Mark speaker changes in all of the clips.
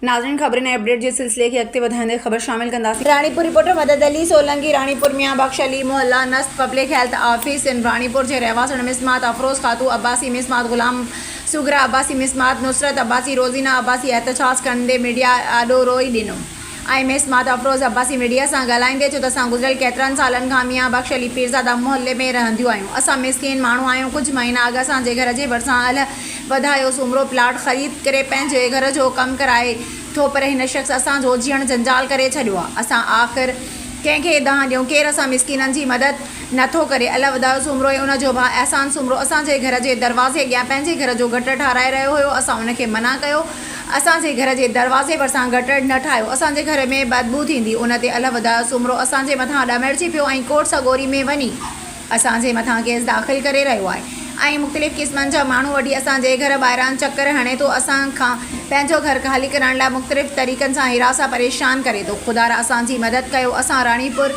Speaker 1: ناظرين خبرن ۽ اپڊيٽ جي سلسلي کي اڳتي وڌائيندي خبر شامل ڪنداسين. راڻيپور، رپورٽر مدد علي سولنگي، راڻيپور ميان بخش علي محله نسٽ public health office in Ranipur جي رهواسڻ مصمات افروز خاتو عباسي مصمات غلام سوگرا عباسي مصمات نصرت عباسي روزينا عباسي احتجاج ڪندي ميڊيا آڏو روئي ڏنو ۽ مصمات افروز عباسي ميڊيا سان ڳالهائيندي چيو ته اسان گذريل ڪيترن سالن کان ميان بخش علي پيرزاده محلي ۾ رهنديون آهيون اسان مسڪين ماڻهو آهيون ڪجهه مهينا اڳ اسان جي گهر جي ڀرسان اهل وڌايو سومرو پلاٽ خريد ڪري پنهنجي گهر جو ڪم ڪرائي ٿو پر هن شخص اسان جو جيئڻ جنجال ڪري ڇڏيو آ اسان آخر ڪنهن کي دانهن ڏيون ڪير اسان مسڪينن جي مدد نه ٿو ڪري الله وڌايو سومرو ۽ ان جو ڀاء احسان سومرو اسان جي گهر جي دروازي اڳيان پنهنجي گهر جو گٽر ٺاهرائي رهيو هيو اسان ان کي منع ڪيو اسان جي گهر جي دروازي ڀرسان گٽر نه ٺاهيو اسان جي گهر ۾ بدبو ٿيندي ان تي الله وڌايو سومرو اسان جي مٿان ڏمرجي پيو ۽ ڪوٽ سڳوري ۾ وڃي اسان جي مٿان ڪيس داخل ڪري رهيو آهي ۽ مختلف قسمن جا ماڻهو وٺي اسان جي گهر ٻاهران چڪر هڻي ٿو اسان کان پنهنجو گهر خالي ڪرائڻ لاء مختلف طريقن سان هراسان پريشان ڪري ٿو خدا را اسان جي مدد ڪيو اسان راڻيپور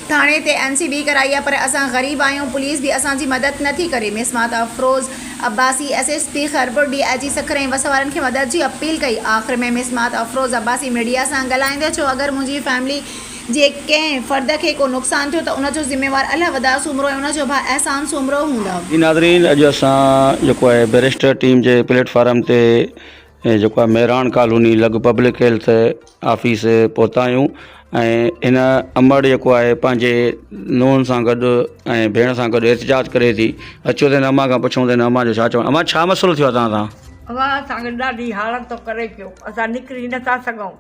Speaker 1: ٿاڻي تي اين سي به ڪرائي آهي پر اسان غريب آهيون پوليس به اسان جي مدد نه ٿي ڪري مسمات Afroz Abbasi S S P Khairpur D I G Sukkur ۽ وس وارن کي مدد جي اپيل ڪئي آخر ۾ مسمات افروز عباسي ميڊيا سان ڳالهائيندي چيو اگر منهنجي فيملي جي ڪنهن فرد کي ڪو نقصان ٿيو ته ان جو ذميوار الله وداد سومرو ۽ ان جو ڀاء احسان سومرو هوندا. جي ناظرين اڄ اسان
Speaker 2: جيڪو آهي بيريسٽر ٽيم جي پليٽ فارم تي جيڪو آهي مهراڻ ڪالوني لڳ پبلڪ هيلٿ آفيس پهتا آهيون ۽ هن امڙ جيڪو آهي پنهنجي نونهن سان گڏ ۽ ڀيڻ سان گڏ احتجاج ڪري ٿي اچو ته هن اما کان پڇون ته هن اما جو ڇا چوڻ اما ڇا مسئلو ٿيو آهي توهان سان. اوهان اسان کي
Speaker 3: ڏاڍي حالت ٿو ڪري پيو اسان نڪري نٿا سگهون.